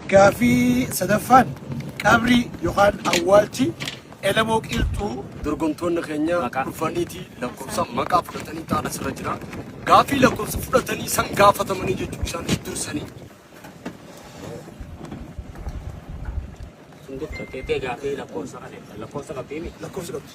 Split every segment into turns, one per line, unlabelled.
Gaafii sadaffaan qabrii yookaan awwaalchi Elemoo Qiilxuu dorgomtoonni keenya
Maqaa. dhufaniiti lakkoofsa maqaa fudhatanii taa'an asirra jira. Gaafii lakkoofsa fudhatanii san gaafatamanii jechuun isaaniif dursanii Sun gocha kee gaafii lakkoofsa kana
lakkoofsa qabdii miti. lakkoofsa qabdi.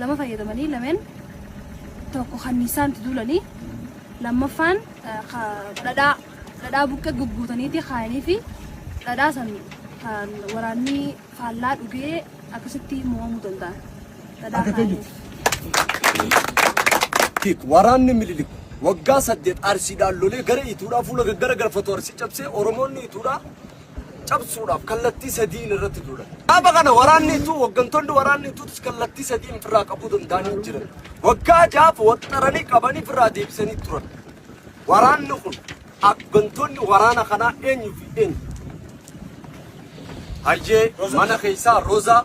lama fayyadamanii lameen tokko kanniisaan itti duulanii lammaffaan eh, ka- dhadhaa dhadhaa buqqee gugguutaniiti kaayanii fi dhadhaa san kan waraanni faallaa dhugee akkasitti mo'amuu danda'an. Dhadhaa Akka kaayanii.
Hiik waraanni mililik waggaa saddeet arsiidhaan lolee gara ituudhaa fuula gaggara galfatu arsii cabsee oromoonni ituudhaa cabsuudhaaf kallattii sadiin irratti duulan. Dhaaba kana waraanni ituu hooggantoonni waraanni ituutis kallattii sadiin ofirraa qabuu danda'anii jiran. Waggaa jaaf waxxaranii qabanii ofirraa deebisanii turan. Waraanni kun hooggantoonni waraana kanaa eenyu fi eenyu? Hayyee mana keessaa Roozaa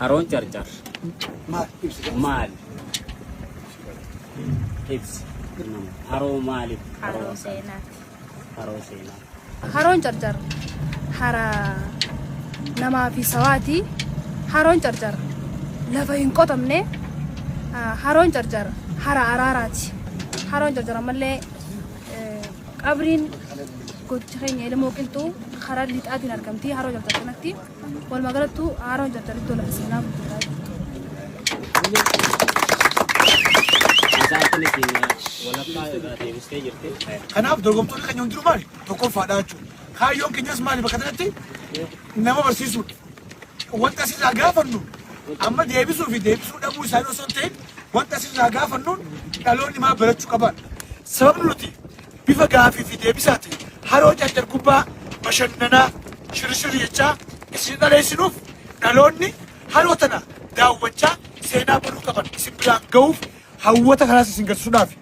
Haroon carcar maal ibsa? Haroo maaliif? Haroo seenaati.
Haroo
seenaa. Haroon carcar
hara namaa fi sawaati. Haroon carcar lafa hin qotamne. Ah, Haroon carcar hara araaraati. Haroon carcar ammallee eh, qabriin gocha keenya ilmoo qilxuu karaa lixaatiin argamti. Haroo carcar kanatti. Walumaa galattuu haaraan hojjechaa jirtu lafa seenaa guddaa Isaan kun
ittiin walakkaa irraa deebistee jirti. Kanaaf dorgomtoonni keenya hundinuu maali? Tokkoffaadha jechuudha. Kaayyoon keenyas maali bakka kanatti? Nama barsiisuudha. Wanta asirraa gaafannu amma deebisuu fi deebisuu dhabuu isaanii osoo hin ta'in wanta asirraa gaafannuun dhaloonni maal barachuu qabaadha. Sababni nuti Bifa gaafii fi deebisaatiin haroo Carcar Gubbaa bashannanaa, shirishir jechaa isin dhaleessinuuf dhaloonni haroo tana daawwachaa seenaa baruu qaban isin biraan gahuuf hawwata kanaas isin garsisuudhaafi.